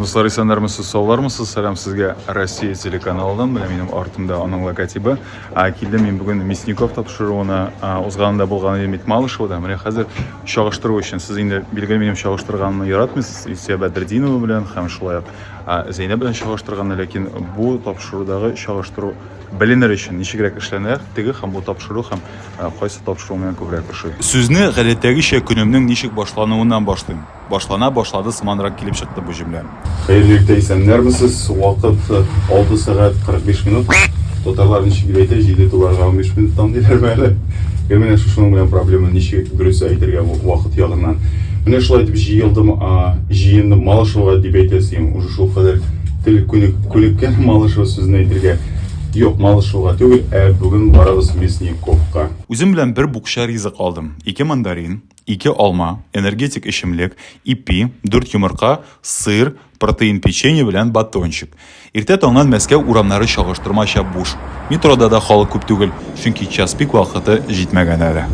Дуслар исәннәрмесез, саулармысыз? Сәлам сезгә Россия телеканалыннан. Менә минем артымда аның логотибы. А, килдем мин бүген Мясников тапшыруына, узганында булган идем бит Малышевада. Менә хәзер чагыштыру өчен сез инде билгеле минем чагыштырганны яратмыйсыз. Илсия Бәдердинова белән һәм шулай ук Зәйнәб белән чагыштырганны, ләкин бу тапшырудагы чагыштыру беленер өчен ничегрәк эшләнә, теге һәм бу тапшыру һәм кайсы тапшыру миңа күбрәк ошый. Сүзне гадәттәгечә көнемнең ничек башлануыннан башлыйм. Башлана башлады сыманрак килеп чыкты бу җөмлә. Хәерле иртә, исәннәрме сез? Вакыт, 6 сәгать 45 минут. Татарлар ничек дип әйтә, җиде туларга унбиш минуттан диләрме әле? Гел менә шушының белән проблема, ничек дөрес әйтергә вакыт ягыннан. Менә шулай итеп җыелдым, җыендым Малышевга дип әйтә син, уже шул кадәр тел күнеккән Малышево сүзен әйтергә. Юк, Малышевга түгел, ә бүген барабыз Мясниковка. Үзем белән бер букча ризык алдым, ике мандарин, ике алма, энергетик эчемлек, ипи, дүрт йомырка, сыр, протеин печенье белән батончик. Иртә таңнан Мәскәү урамнары чагыштырмача буш. Метрода да халык күп түгел, чөнки час пик вакыты җитмәгән әле.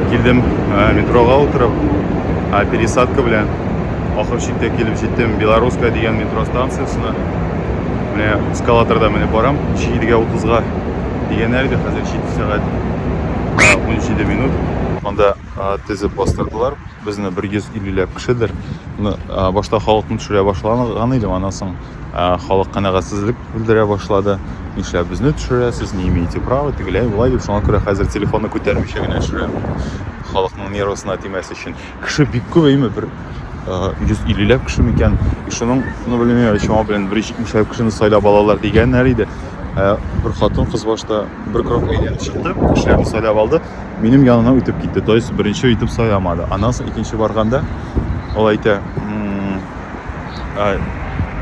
Килдем э, метрога утырып, э, пересадка белән ахыр чиктә килеп җиттем Белорусская дигән метро станциясенә. Менә эскалаторда менеп барам. 7-гә 30-га дигәннәр иде, хәзер 7 сәгать 17 минут. Анда тезеп бастырдылар. Безне 150 ләп кешедер. Башта халыкны төшерә башлаган идем, аннан соң халык канәгатьсезлек белдерә башлады. Нишләп безне төшерәсез, не имеете права, тегеләй, болай дип, шуңа күрә хәзер телефонны күтәрмичә генә төшерәм. Халыкның нервысына тимәс өчен. Кеше бик күп әйме бер 150 ләп кеше микән. И шуның, ну блин, я чама белән 170 ләп кешене сайлап алалар дигәннәр иде. Ә бер хатын кыз башта бер крок әйләнеп чыкты, кешеләрне сайлап алды. Минем янына үтеп китте. То есть беренче итеп сайламады. Аннан соң икенче барганда ул әйтә,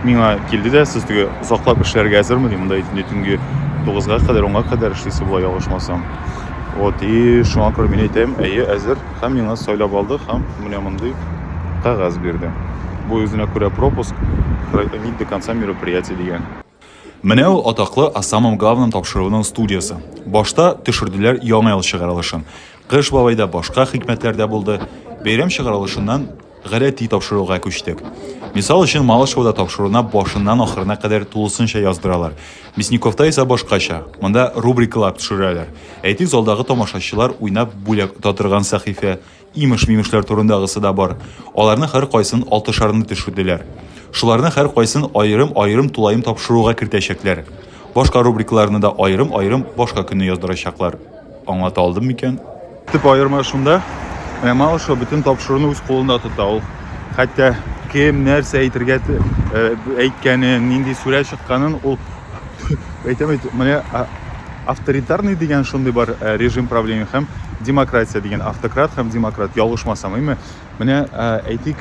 миңа килде дә сез теге озаклап эшләргә әзерме ди монда инде төнге тугызга кадәр онга кадәр эшлисе була ялгышмасам вот и шуңа күрә мин әйтәм әйе әзер Һәм миңа сайлап алды һәм менә мондый кәгазь бирде. Бу үзенә күрә пропуск, продлить до конца мероприятия дигән. Менә ул атаклы О самом главном тапшыруның студиясе. Башта төшерделәр Яңа ел чыгарылышын. Кыш бабай да, башка хикмәтләр дә булды. Бәйрәм чыгарылышыннан Гадәти тапшыруга күчтек. Мисал өчен, Малышевода тапшыруны башыннан ахырына кадәр тулысынча яздыралар. Мясниковта исә башкача. Монда рубрикалар төшерәләр. Әйтик, залдагы тамашачылар уйнап бүләк ота торган сәхифә, имеш-мимешләр турындагысы да бар. Аларның һәркайсын алтышарны төшерделәр. Шуларның һәркайсын аерым-аерым тулаем тапшыруга кертәчәкләр. Башка рубрикаларны да аерым-аерым башка көнне яздырачаклар. Аңлата алдым микән? Төп аерма шунда, менә Малышева бөтен тапшыруны үз кулында тота ул. Хәтта кем нәрсә әйтергә э, әйткәнен, нинди сүрә чыкканын ул әйтәм бит, менә авторитарный дигән шундый бар э, режим правления һәм демократия дигән автократ һәм демократ ялгышмасам, әйме? Менә әйтик,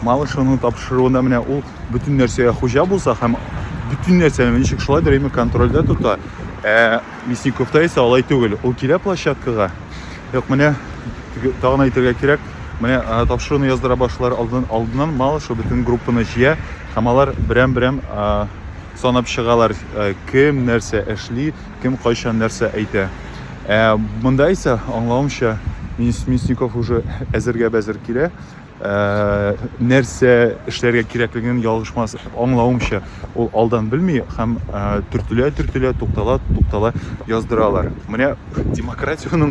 Малышевның тапшыруында менә ул бөтен нәрсәгә хуҗа булса һәм бөтен нәрсәне ничек шулай дөрәйме контрольдә тота. Ә Мясниковта исә алай түгел. Ул килә площадкага. Юк, менә тагын әйтергә кирәк, менә тапшыруны яздыра башлар алдын, алдыннан Малышев бөтен группаны җыя һәм алар берәм-берәм санап чыгалар, кем нәрсә эшли, Кем кайчан нәрсә әйтә. Ә монда исә, аңлавымча, Мясников уже әзергә-бәзер килә. Ә, нәрсә эшләргә кирәклеген ялгышмас аңлавымча, ул алдан белми һәм төртелә-төртелә, туктала-туктала яздыралар. Менә демократиянең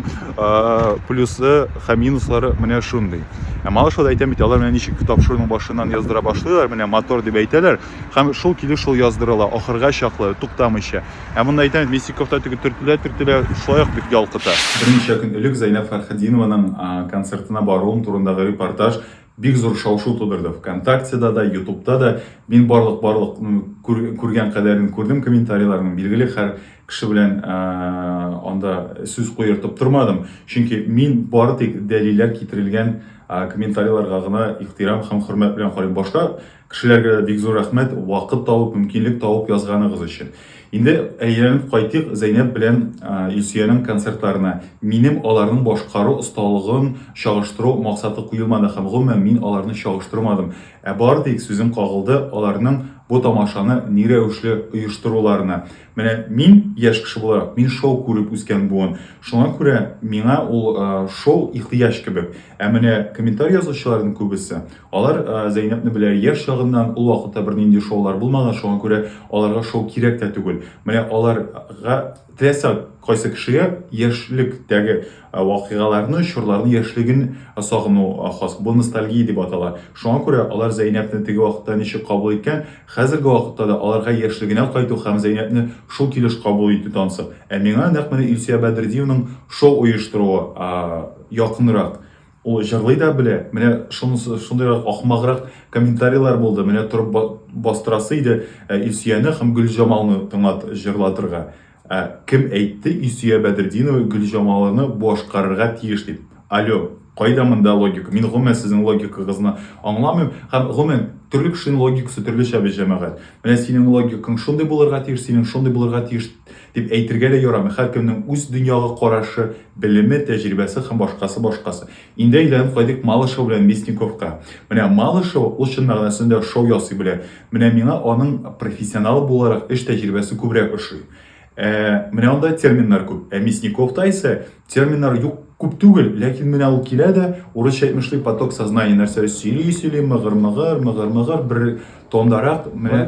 плюсы һәм минуслары менә шундый. Ә малышода әйтәм бит, алар менә ничек тапшыруның башыннан яздыра башлыйлар, менә мотор дип әйтәләр, һәм шул килеш шул яздырыла, ахырга чаклы, туктамыйча. Ә монда әйтәм, миссик кофта теге төртелә-төртелә, шулай ук бик ялкыта. Берничә көн элек Зәйнәб Фәрхетдинованың концертына баруым турындагы репортаж бик зур шау-шу тудырды. Вконтактеда да, Ютубта да мин барлык-барлык күргән кадәрен күрдем комментарийларның. Билгеле, һәр кеше белән анда сүз куертып тормадым, чөнки мин бары тик дәлилләр китерелгән комментарийларга гына ихтирам һәм хөрмәт белән карыйм. Башка Кешеләргә дә бик зур рәхмәт, вакыт табып, мөмкинлек табып язганыгыз өчен. Инде әйләнеп кайтыйк Зәйнәб белән Илсөянең концертларына. Минем аларның башкару осталыгын чагыштыру максаты куелмады һәм, гомумән, мин аларны чагыштырмадым. Ә бары тик сүзем кагылды аларның бу тамашаны ни рәвешле оештыруларына. Менә мин, яшь кеше буларак, мин шоу күреп үскән буын. Шуңа күрә миңа ул шоу ихтыяҗ кебек. Ә менә комментарий язучыларның күбесе, Алар Зәйнәбне белә, яшь чагыннан ул вакытта бернинди шоулар булмаган, шуңа күрә аларга шоу кирәк тә түгел. Менә аларга теләсә кайсы кешегә яшьлектәге вакыйгаларны, чорларны, яшьлеген сагыну хас. Бу ностальгия дип атала. Шуңа күрә алар Зәйнәбне теге вакытта ничек кабул иткән, хәзерге вакытта да аларга яшьлегенә кайту һәм Зәйнәбне шул килеш кабул итү тансык. Ә миңа нәкъ менә Илсөя Бәдретдиеваның шоу оештыруы якынрак. Ул җырлый да белә. Менә шунысы шундыйрак ахмаграк комментарийлар булды. Менә торып ба- бастырасы иде ә, Илсөяне һәм Гөлҗамалны тыңлат җырлатырга. Ә кем әйтте Илсөя Бәдретдинова Гөлҗамалны башкарырга тиеш дип? Алё, кайда монда логика? Мин гомумән сезнең логикагызны аңламыйм. Һәм гомумән, төрле кешенең логикасы төрлечә бит, җәмәгать. Менә синең логикаң шундый булырга тиеш, синең шундый булырга тиеш. Дип әйтергә дә ярамый, һәркемнең үз дөньяга карашы, белеме, тәҗрибәсе һәм башкасы башкасы. Инде әйләнеп кайдыйк Малышева белән Мясниковка. Менә Малышева, ул чын мәгънәсендә шоу ясый белә. Менә миңа аның профессионал буларак эш тәҗрибәсе күбрәк ошый. Ә менә анда терминнар күп. Ә Мясниковта исә терминнар юк күп түгел, ләкин менә ул килә дә, урысча әйтмешли, поток сознания нәрсә сөйли-сөйли, мыгыр-мыгыр, мыгыр-мыгыр, бер Тондарак менә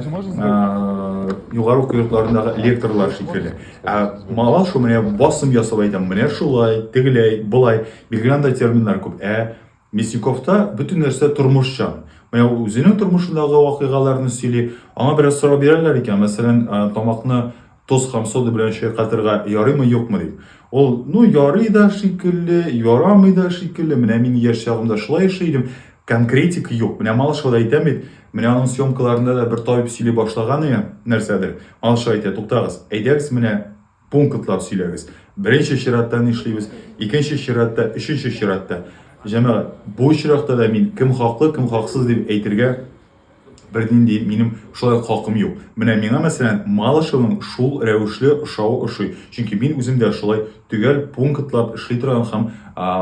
югары уку йортларындагы лекторлар шикелле. Ә мала шул менә басым ясап әйтәм, менә шулай, тегеләй, былай. Биргән анда терминнар күп. Ә Мясниковта бөтен нәрсә тормышчан. Менә үзенең тормышындагы вакыйгаларны сөйли. Аңа бераз сорау бирәләр икән, мәсәлән, тамакны Тоз һәм сода белән чайкатырга ярыймы юкмы дип. Ул, ну ярый да шикелле, ярамый да шикелле, менә мин яшь чагымда шулай эшли идем, конкретик юк. Менә Малышева да әйтәм бит, менә аның съемкаларында да бер табиб сөйли башлаган иде нәрсәдер. Малышева әйтә, туктагыз, әйдәгез менә пунктлар сөйләгез. Беренче чиратта ни эшлибез, икенче чиратта, өченче чиратта. Җәмәгать, бу очракта да мин кем хаклы, кем хаксыз дип әйтергә бернинди минем шулай ук хакым юк. Менә миңа, мәсәлән, Малышевның шул рәвешле ошавы ошый, чөнки мин үзем дә шулай төгәл пунктлап эшли торган һәм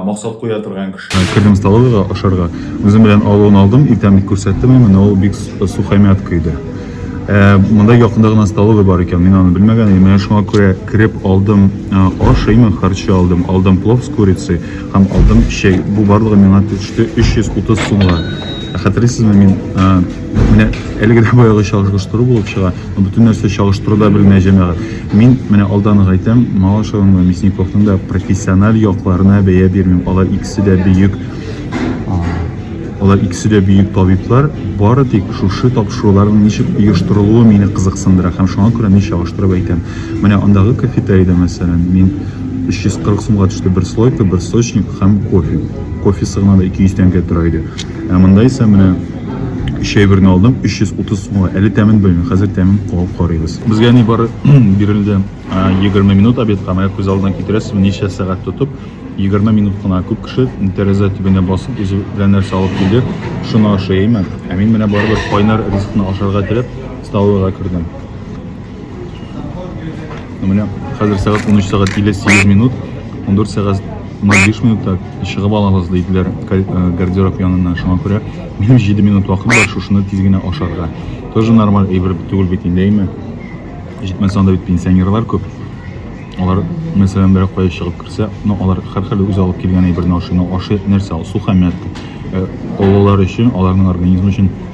максат куя торган кеше. Кердем столовыйга ашарга. Үзем белән алуын алдым, иртәнлек күрсәттем, ә менә ул бик сухомятка иде. Ә монда якында гына столовый бар икән, мин аны белмәгән идем. Менә шуңа күрә кереп алдым, ашыймын, харчы алдым, алдым плов с курицей һәм алдым чәй. Бу барлыгы миңа төште 330 сумга. Хәтерисезме, мин менә әлеге дә баягы чагыштыру булып чыга. Бөтен нәрсә чагыштыру да белмә җәмәгать. Мин менә алдан гайтам, Малышевның да, Мясниковның да профессиональ якларына бәя бирмим. Алар икесе дә бөек Алар икесе дә бөек табиблар. Бары тик шушы тапшыруларның ничек оештырылуы мине кызыксындыра һәм шуңа күрә мин чагыштырып әйтәм. Менә андагы кафетериядә, мәсәлән, мин 340 сумга төште бер слойка, бер сочник һәм кофе. Кофесы гына да 200 тәңкә тора иде. Ә монда исә менә өч әйберне алдым, 330 сумга. Әле тәмен белмим, хәзер тәмен куып карыйбыз. Безгә ни бары бирелде 20 минут обедка, менә күз алдына китерәсез, ничә сәгать тотып, 20 минут кына күп кеше тәрәзә төбенә басып, үзе белән нәрсә алып килде, шуны ашыймы? Ә мин менә барыбер кайнар ризыкны ашарга теләп, столовыйга кердем. Менә хәзер сәгать 13 сәгать 58 минут, 14 сәгать 05 минутта чыгып алабыз диделәр э, гардероб янына. Шуңа күрә минем 7 минут вакыт бар, шушыны тиз генә ашарга. Тоже нормаль әйбер түгел бит инде, әйме? Җитмәсә анда бит пенсионерлар күп. Алар, мәсәлән, берәк кая чыгып керсә, ну алар һәрхәле үзе алып килгән әйберне ашый, но ашый нәрсә ул? Сухомятка. Э, олылар өчен, аларның организмы өчен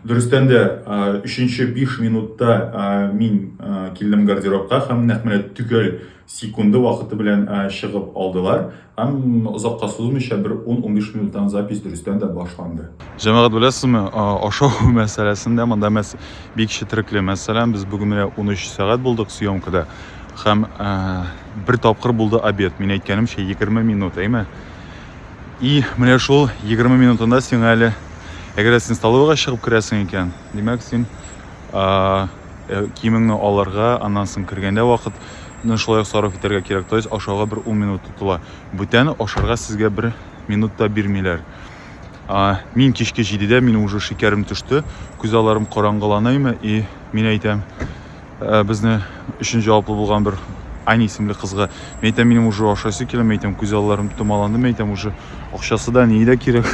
Дөрестән дә, өченче биш минутта мин килдем гардеробка һәм нәкъ менә төгәл секунды вакыты белән чыгып алдылар. Һәм озакка сузмыйча, бер ун-унбиш минуттан запись дөрестән дә башланды. Җәмәгать, беләсезме, ашау мәсьәләсендә монда мәс бик четерекле. Мәсәлән, без бүген менә унөч сәгать булдык съемкада һәм бер тапкыр булды обед. Мин әйткәнемчә, егерме минут, әйме? И менә шул 20 минутында сиңа әле әгәр дә син столовыйга чыгып керәсең икән, димәк син э, киемеңне алырга, аннан соң кергәндә вакытны шулай ук сарыф итәргә кирәк. То есть ашауга бер 10 минут тотыла. Бүтән ашарга сезгә бер минут та бирмиләр. А, мин кичке 7-дә, мин уже шикәрем төште, күз аларым караңгыланыймы и мин әйтәм, Ә, безне өчен җаваплы булган бер Ани исемле кызга. Мин әйтәм, минем уже ашайсы килә, мин әйтәм, күз алларым томаланды, мин әйтәм, уже акчасы да ни дә кирәк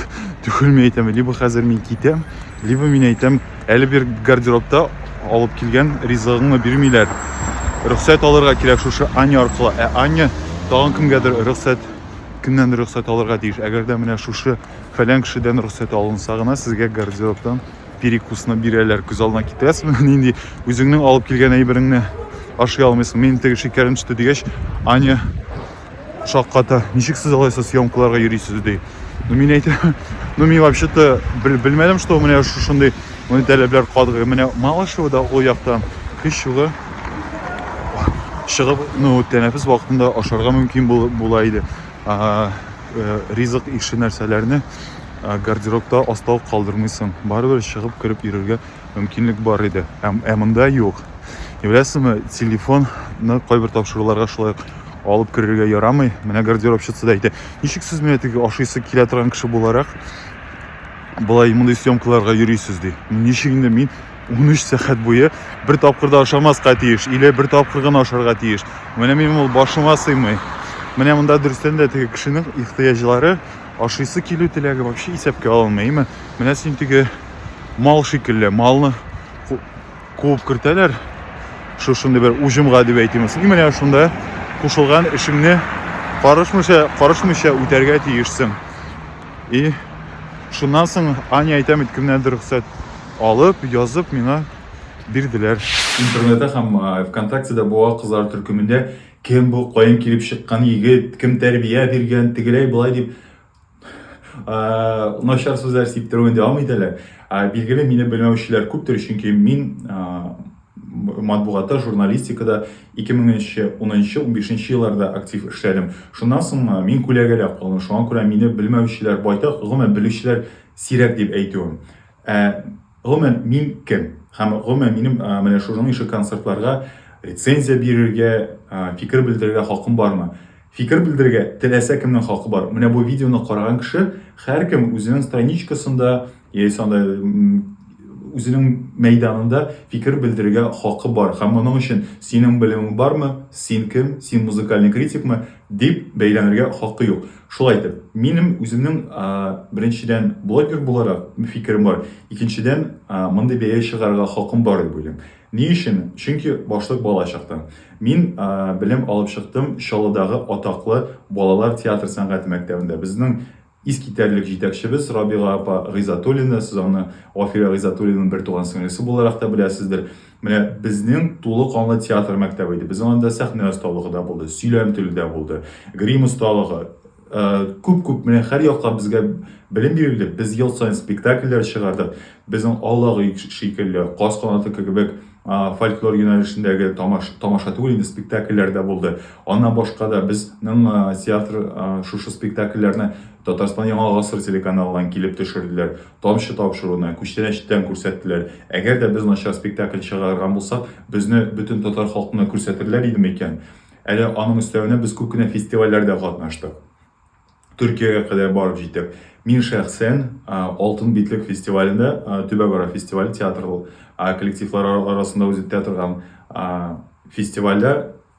түгел, мин әйтәм, либо хәзер мин китәм, либо мин әйтәм, әле бер гардеробта алып килгән ризыгыңны бирмиләр. Рөхсәт алырга кирәк шушы Аня аркылы. Ә Аня тагын кемгәдер рөхсәт кемнән рөхсәт алырга тиеш. Әгәр дә менә шушы фәлән кешедән рөхсәт алынса гына сезгә гардеробтан перекусны бирәләр күз алдына китерәсең нинди үзеңнең алып килгән әйбереңне ашый алмыйсың мин теге шикәрем төште дигәч аня шакката ничек сез алайса съемкаларга йөрисез ди ну мин әйтә ну мин вообще то белмәдем что менә шушындый моны таләпләр катгый менә малышевода ул яктан һич югы чыгып ну тәнәфес вакытында ашарга мөмкин була иде э, ризык ише нәрсәләрне Ә гардеробта астау калдырмыйсың. Барыбер чыгып кереп йөрергә мөмкинлек бар иде. Ә, ә монда юк. Беләсезме, телефонны кайбер тапшыруларга шулай алып керергә ярамый. Менә гардеробщица да әйтә. Ничек сез менә теге ашыйсы килә торган кеше буларак болай мондый съемкаларга йөрисез ди. Ничек инде мин 13 сәгать буе бер тапкыр да ашамаска тиеш, или бер тапкыр гына ашарга тиеш. Менә минем ул башыма сыймый. Менә монда дөрестән дә теге кешенең ихтыяҗлары Ашыйсы килү теләге вообще исәпкә алынмый, әйме? Менә син теге мал шикелле, малны куып кертәләр, шушындый бер уҗымга дип әйтимесен. И менә шунда кушылган эшеңне карышмыйча, карышмыйча үтәргә тиешсең. И шуннан соң Аня әйтәм бит, кемнәндер рөхсәт алып, язып миңа бирделәр. Интернетта һәм ВКонтактеда буа кызлар төркемендә Кем бу, каян килеп чыккан егет, кем тәрбия биргән, тегеләй болай дип начар сүзләр сиптерүен дәвам итәләр. Билгеле, мине белмәүчеләр күптер, чөнки мин матбугатта, журналистикада 2010-15 елларда актив эшләдем. Шуннан соң мин күләгәдә калдым. Шуңа күрә мине белмәүчеләр байтак, гомумән белүчеләр сирәк дип әйтүем. Гомумән, мин кем? Һәм гомумән минем менә шуның ише концертларга рецензия бирергә, фикер белдерергә хакым бармы? Фикер белдерергә теләсә кемнең хакы бар. Менә бу видеоны караган кеше һәркем үзенең страничкасында яисә анда үзенең мәйданында фикер белдерергә хакы бар. Һәм моның өчен синең белемең бармы? Син кем? Син музыкальный критикмы? дип бәйләнергә хакы юк. Шулай итеп, минем үземнең беренчедән блогер буларак фикерем бар, икенчедән мондый бәя чыгарырга хакым бар дип уйлыйм. Ни өчен? Чөнки башлык бала чактан. Мин белем алып чыктым Чаллыдагы атаклы балалар театр сәнгате мәктәбендә. Безнең искитәрлек җитәкчебез Рабига апа Гыйзатуллина, сез аны Гафирә Гыйзатуллинаның бертуган сеңлесе буларак та беләсездер. Менә безнең тулы канлы театр мәктәбе иде. Безнең анда сәхнә осталыгы да булды, сөйләм теле дә булды, грим осталыгы, күп-күп э, менә һәр якка безгә белем бирелде. Без ел саен спектакльләр чыгардык. Безнең Аллагы шикелле, Каз канаты кебек фольклор юнәлешендәге тамаш, тамаша түгел инде спектакльләр дә булды. Аннан башка да безнең театр шушы спектакльләрне Татарстан Яңа гасыр телеканалыннан килеп төшерделәр. Тамчы тапшыруны, күчтәнәч тәм күрсәттеләр. Әгәр дә без начар спектакль чыгарган булсак, безне бөтен татар халкына күрсәтерләр идеме икән? Әле аның өстәвенә без күп кенә фестивальләрдә катнаштык. Төркиягә кадәр барып җитеп, мин шәхсән Алтын битлек фестивалендә, Төбәкара фестивале театр коллективлары арасында үзе театрган фестивальдә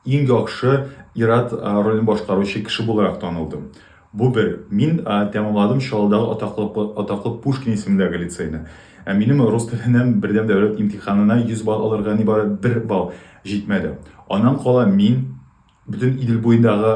Иң яхшы ир-ат ролен башкаручы кеше буларак танылдым. Бу бер. Мин тәмамладым Чаллыдагы атаклы атаклы Пушкин исемендәге лицейны. Ә минем рус теленнән бердәм дәүләт имтиханына 100 балл алырга нибары бер балл җитмәде. Аннан кала мин бөтен Идел буендагы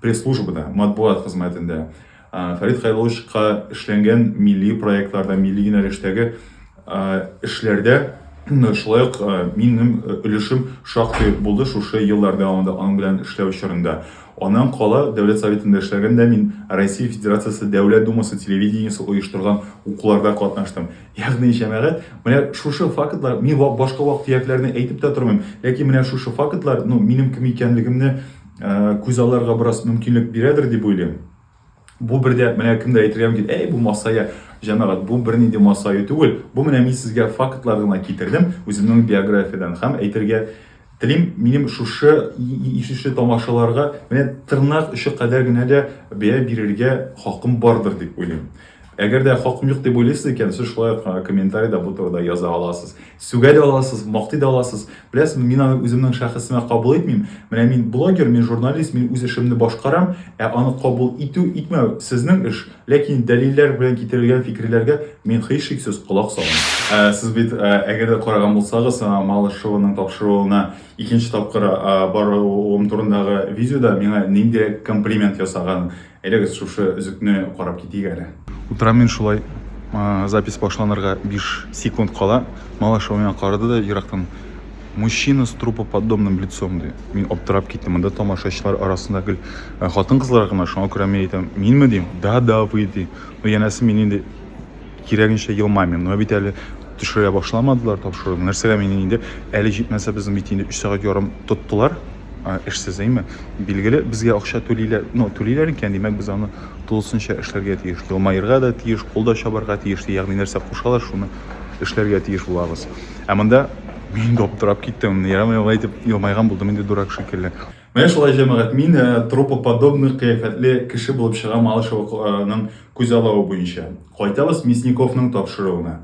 Пресс-службада, матбугат хезмәтендә Фәрит Кайловичка эшләнгән милли проектларда, милли юнәлештәге эшләрдә шулай ук минем өлешем шактый булды шушы еллар дәвамында аның белән эшләү чорында. Аннан кала Дәүләт Советында эшләгәндә мин Россия Федерациясе Дәүләт Думасы телевидениесе оештырган укуларда катнаштым. Ягъни, җәмәгать, менә шушы фактлар, мин башка вак-төякләрне әйтеп тә тормыйм, ләкин менә шушы фактлар, ну, минем кем икәнлегемне күз алырга бераз мөмкинлек бирәдер дип уйлыйм. Бу бердә менә кемдә әйтергә мөмкин, әй бу масая, җәмәгать, бу бернинди масаю түгел. Бу менә мин сезгә фактлар гына китердем үземнең биографиядән һәм әйтергә телим, минем шушы ишешле тамашаларга менә тырнак очы кадәр генә дә бәя бирергә хакым бардыр дип уйлыйм. Әгәр дә хакым юк дип уйлыйсыз икән, сез шулай ук аңа комментарида бу турыда яза аласыз. Сүгә дә аласыз, мактый да аласыз. Беләсезме, мин аны үземнең шәхесемә кабул итмим. Менә мин блогер, мин журналист, мин үз эшемне башкарам, ә аны кабул итү, итмәү, сезнең эш. Ләкин дәлилләр белән китерелгән фикерләргә мин һичшиксез колак салам. Сез бит, әгәр дә караган булсагыз, Малышеваның тапшыруына икенче тапкыр баруым турындагы видеода миңа ниндирәк комплимент ясаганын, Әйдәгез шушы өзекне карап китик әле. Утырам мин шулай запись башланырга 5 секунд кала. Малаша миңа карады да ерактан мужчина с трупоподобным лицом ди. Мин аптырап киттем. Монда тамашачылар арасында гел хатын-кызлар гына, шуңа күрә мин әйтәм, минме дим? Да, да, вы ди. Ну, янәсе мин инде Кирәгенчә елмаймыйм. Менә бит әле төшерә башламадылар тапшыруны. Нәрсәгә мин инде әле җитмәсә безнең бит инде 3 сәгать ярым тоттылар эшсез, әйме? Билгеле, безгә акча түлиләр, ну, түлиләр икән, димәк, без аны тулысынча эшләргә тиеш. Елмаерга да тиеш, кул да чабарга тиеш, ягъни нәрсә кушалар, шуны эшләргә тиеш булабыз. Ә монда мин аптырап киттем. Ярам, ярам, әйтеп елмайган булдым инде дурак шикелле. Менә шулай, җәмәгать, мин трупоподобный кыяфәтле кеше булып чыгам Малышеваның күзаллавы буенча. Кайтабыз Мясниковның тапшыруына.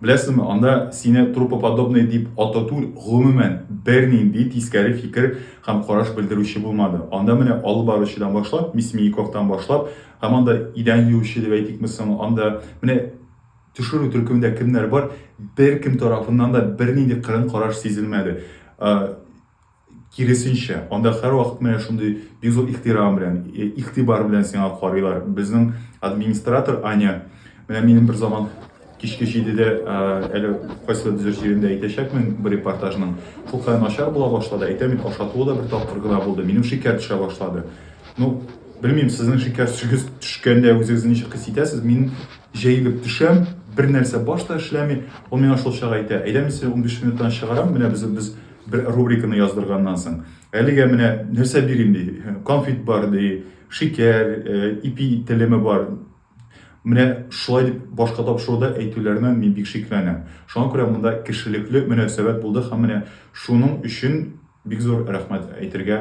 Беләсезме, анда сине трупоподобный дип атау түгел, гомумән, бернинди тискәре фикер һәм караш белдерүче булмады. Анда менә алып баручыдан башлап, Мясмииковтан башлап, һәм анда идән юучы дип әйтикме соң, анда менә төшерү төркемендә кемнәр бар, беркем тарафыннан да бернинди кырын караш сизелмәде. Киресенчә, анда һәрвакыт менә шундый бик зур ихтирам белән, э, игътибар белән сиңа карыйлар. Безнең администратор Аня, менә минем бер заман кичке җидедә, э, әле кайсы дизер җирендә әйтәчәкмен бер репортажның, шулкадәр начар була башлады, әйтәм бит, ашатуы да бер тапкыр гына булды, минем шикәр төшә башлады. Ну, белмим, сезнең шикәр төшегез төшкәндә үзегезне ничек хис итәсез, мин җәелеп төшәм, бер нәрсә баш та эшләми, ул миңа шул чак әйтә, әйдә мин сине унбиш минуттан чыгарам, менә без, без Бер рубриканы яздырганнан соң, әлегә менә нәрсә бирим ди, конфет бар ди, шикәр, э, ипи телеме бар. Менә шулай дип башка тапшыруда әйтүләренә мин бик шикләнәм. Шуңа күрә монда кешелекле мөнәсәбәт булды һәм менә шуның өчен бик зур рәхмәт әйтергә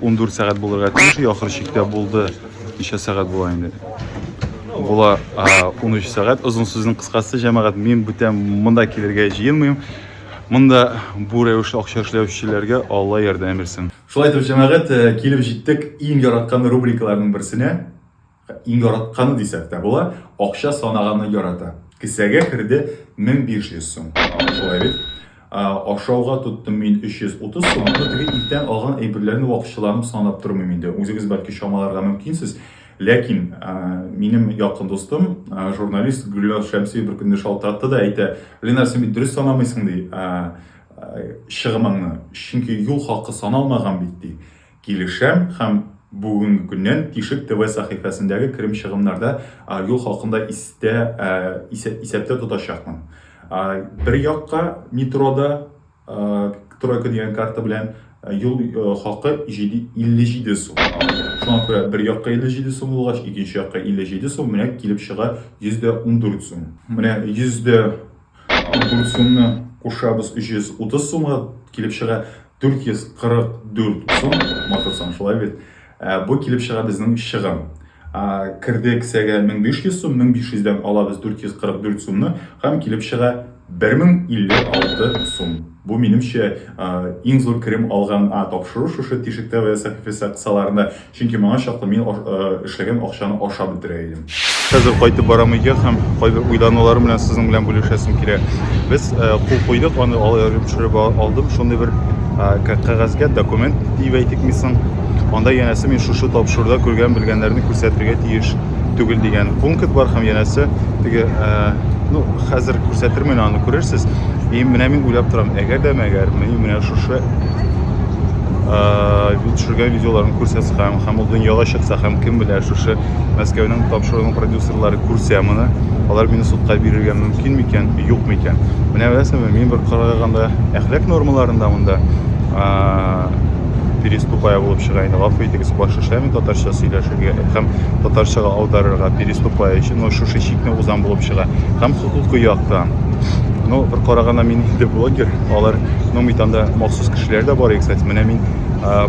14 сәгать булырга тиеш, ахыр чиктә булды. Ничә сәгать була инде? Була 13 сәгать. Озын сүзнең кыскасы, җәмәгать, мин бүтән монда килергә җыенмыйм. Монда бу рәвешле акча эшләүчеләргә Алла ярдәм бирсен. Шулай итеп, җәмәгать, э, килеп җиттек иң яраткан рубрикаларның берсенә. Иң яратканы дисәк тә була, акча санаганны ярата. Кесәгә керде 1500 сум. Шулай бит? Ашауга тоттым мин 330 сум, но теге иртән алган әйберләрне вакытчыланып санап тормыйм инде. Үзегез бәлки чамаларга мөмкинсез. Ләкин минем якын дустым, журналист Гөлназ Шәмсиева беркөнне шалтыратты да әйтә, Ленар, син бит дөрес санамыйсың, ди, чыгымыңны, чөнки юл хакы саналмаган бит, ди. Килешәм һәм бүгенге көннән Тишек ТВ сәхифәсендәге керем-чыгымнарда Аръюл халкын да истә, исәптә тотачакмын. Бер якка метрода Тройка дигән карта белән юл хакы 57 сум. Шуңа күрә бер якка 57 сум булгач, икенче якка 57 сум, менә килеп чыга 114 сум. Менә 100 дә Гульсумны кушабыз 330 сумга килеп чыга. 444 сум, матырсаң шулай бит. Ә, бу килеп чыга безнең чыгым. Ә, керде кесәгә 1500 сум, 1500-дән алабыз 444 сумны һәм килеп чыга 1056 сум. Бу минемчә иң зур керем алган а, тапшыру шушы тишектә вә сәхифәсе кысаларында Чөнки моңа чаклы мин эшләгән акчаны ашап бетерә идем. Хәзер кайтып барам өйгә һәм кайбер уйлануларым белән сезнең белән бүлешәсем килә. Без кул куйдык, аны алып төшереп алдым. Шундый бер кәгазьгә документ дип әйтик мисың. Анда янәсе мин шушы тапшыруда күргән белгәннәрне күрсәтергә тиеш түгел дигән пункт бар һәм янәсе теге ну хәзер күрсәтермен аны күрерсез. И менә мин уйлап торам, әгәр дә мәгәр мин менә шушы төшергән видеоларын күрсәтсәм һәм ул дөньяга чыкса һәм кем белә шушы мәскәүнең тапшыруының продюсерлары күрсә моны алар мине судка бирергә мөмкин микән юк микән менә беләсеңме мин бер караганда әхлак нормаларында монда переступая булып чыга инде гафу итегез баш эшләми татарча сөйләшергә һәм татарчага аударырга переступая өчен но шушы чикне узан булып чыга һәм хокукый яктан ну бер караганда мин инде блогер Алар, ну, митанда махсус кешеләр дә бар, кстати. Менә мин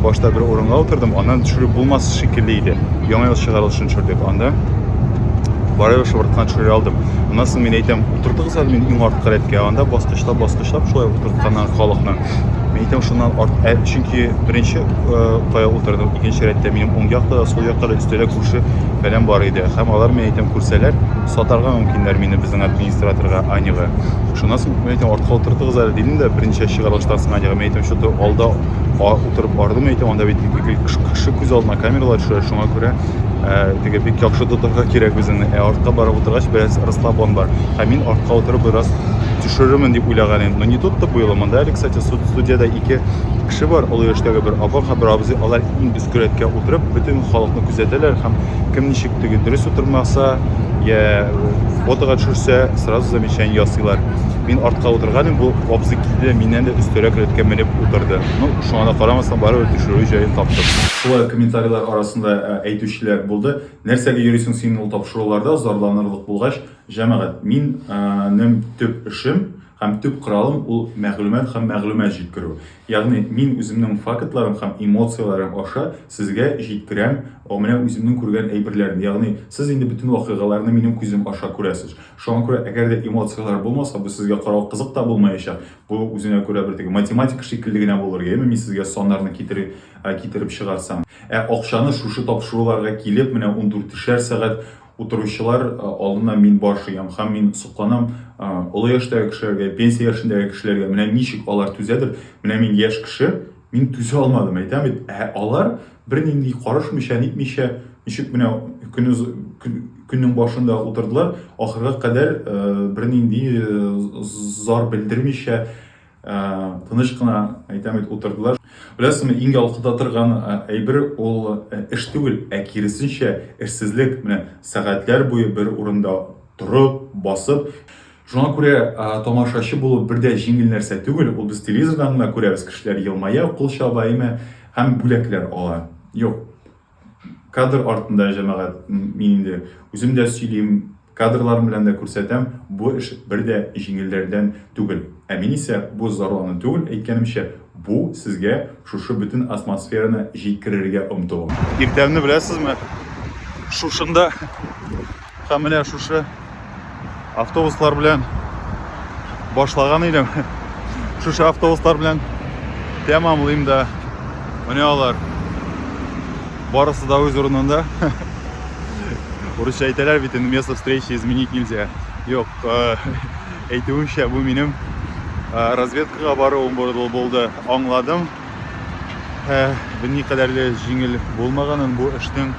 башта бер урынга утырдым, аннан төшерү булмас шикелле иде. Яңа ел чыгарылышын төшердек. Анда барып шыбырткан төшерә алдым. Аннан соң мин әйтәм, утыртыгыз әле мин иң арткы рәткә. Анда баскычлап, баскычлап шулай утыртканнан халыкны. Мин әйтәм, шуннан арт, ә, чөнки беренче кая утырдым, икенче рәттә минем уң якта да, сул якта да өстәлә күрше фәлән бар иде. Һәм алар, мин әйтәм, күрсәләр, сатарга мөмкиннәр мине безнең администраторга, Аняга. Шуннан соң мин әйтәм, артка утыртыгыз әле дидем дә, берничә чыгарга ташлаган ягы. Мин әйтәм, что-то алда утырып бардым, әйтәм, анда бит кеше күз алдына камералар төшә, шуңа күрә теге бик яхшы тотарга кирәк үзеңне. Ә артка барып утыргач, бераз расслабон бар. Һәм мин артка утырып бераз төшерермен дип уйлаган идем. Но не тут-то было. Монда әле, кстати, студиядә ике кеше бар, олы яшьтәге бер апа һәм бер абзый. Алар иң өске рәткә утырып, бөтен халыкны күзәтәләр һәм кем ничек теге дөрес утырмаса я фотога төшерсә сразу замечание ясыйлар мин артка утырган идем бу абзый килде миннән дә өстәрәк рәткә менеп утырды ну шуңа да карамастан барыбер төшерү җаен таптым шулай комментарийлар арасында ә, әйтүчеләр булды нәрсәгә йөрисең син ул тапшыруларда зарланырлык булгач җәмәгать мин ә, нем төп эшем Һәм төп коралым ул мәгълүмат һәм мәгълүмат җиткерү. Ягъни, мин үземнең фактларым һәм эмоцияләрем аша сезгә җиткерәм менә үземнең күргән әйберләрне. Ягъни, сез инде бөтен вакыйгаларны минем күзем аша күрәсез. Шуңа күрә, әгәр дә эмоцияләр булмаса, бу сезгә карау кызык та булмаячак. Бу үзенә күрә бер теге математика шикелле генә булыр, яме мин сезгә саннарны китер китереп чыгарсам. Ә акчаны шушы тапшыруларга килеп, менә ундүртешәр сәгать Утыручылар алдына мин баш иям һәм мин сокланам, олы яшьтәге кешеләргә, пенсия яшендәге кешеләргә, менә ничек алар түзәдер, менә мин яшь кеше, мин түзә алмадым, әйтәм бит, ә алар бернинди карышмыйча, нитмичә, ничек менә көне, көннең башында утырдылар, ахырга кадәр бернинди зар белдермичә, тыныч кына әйтәм бит утырдылар беләсеңме иң ялкыта торган әйбер ул эш түгел ә киресенчә эшсезлек менә сәгатьләр буе бер урында торып басып шуңа күрә тамашачы булып бер дә җиңел нәрсә түгел ул без телевизордан гына күрәбез кешеләр елмая кул чаба имә һәм бүләкләр ала юк Кадр артында җәмәгать, мин инде үзем дә сөйлим, кадрларым белән дә күрсәтәм, бу эш бер дә җиңелләрдән түгел. Ә мин исә бу зарлану түгел, әйткәнемчә, бу сезгә шушы бөтен атмосфераны җиткерергә омтылу. Иртәмне беләсезме? Шушында Һәм менә шушы автобуслар белән башлаган идем. Шушы автобуслар белән тәмамлыйм да. Менә алар. Барысы да үз урынында. Урысча әйтәләр бит инде место встречи изменить нельзя. Юк, әйтүемчә, бу минем разведкага баруым булды. Аңладым. Ә бу никадәр дә җиңел булмаганын бу эшнең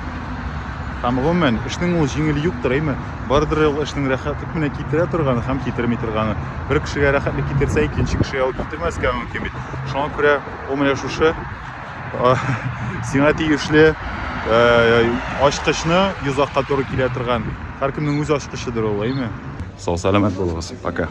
һәм гомумән эшнең ул җиңел юктыр, әйме? Бардыр ул эшнең рәхәтлек менә китерә торганы һәм китерми торганы. Бер кешегә рәхәтлек китерсә, икенче кешегә ул китермәскә мөмкин бит. Шуңа күрә ул менә шушы сиңа тиешле ачкычны йозакка туры килә торган. Һәркемнең үз ачкычыдыр ул, әйме? Сау-сәламәт булыгыз. Пока.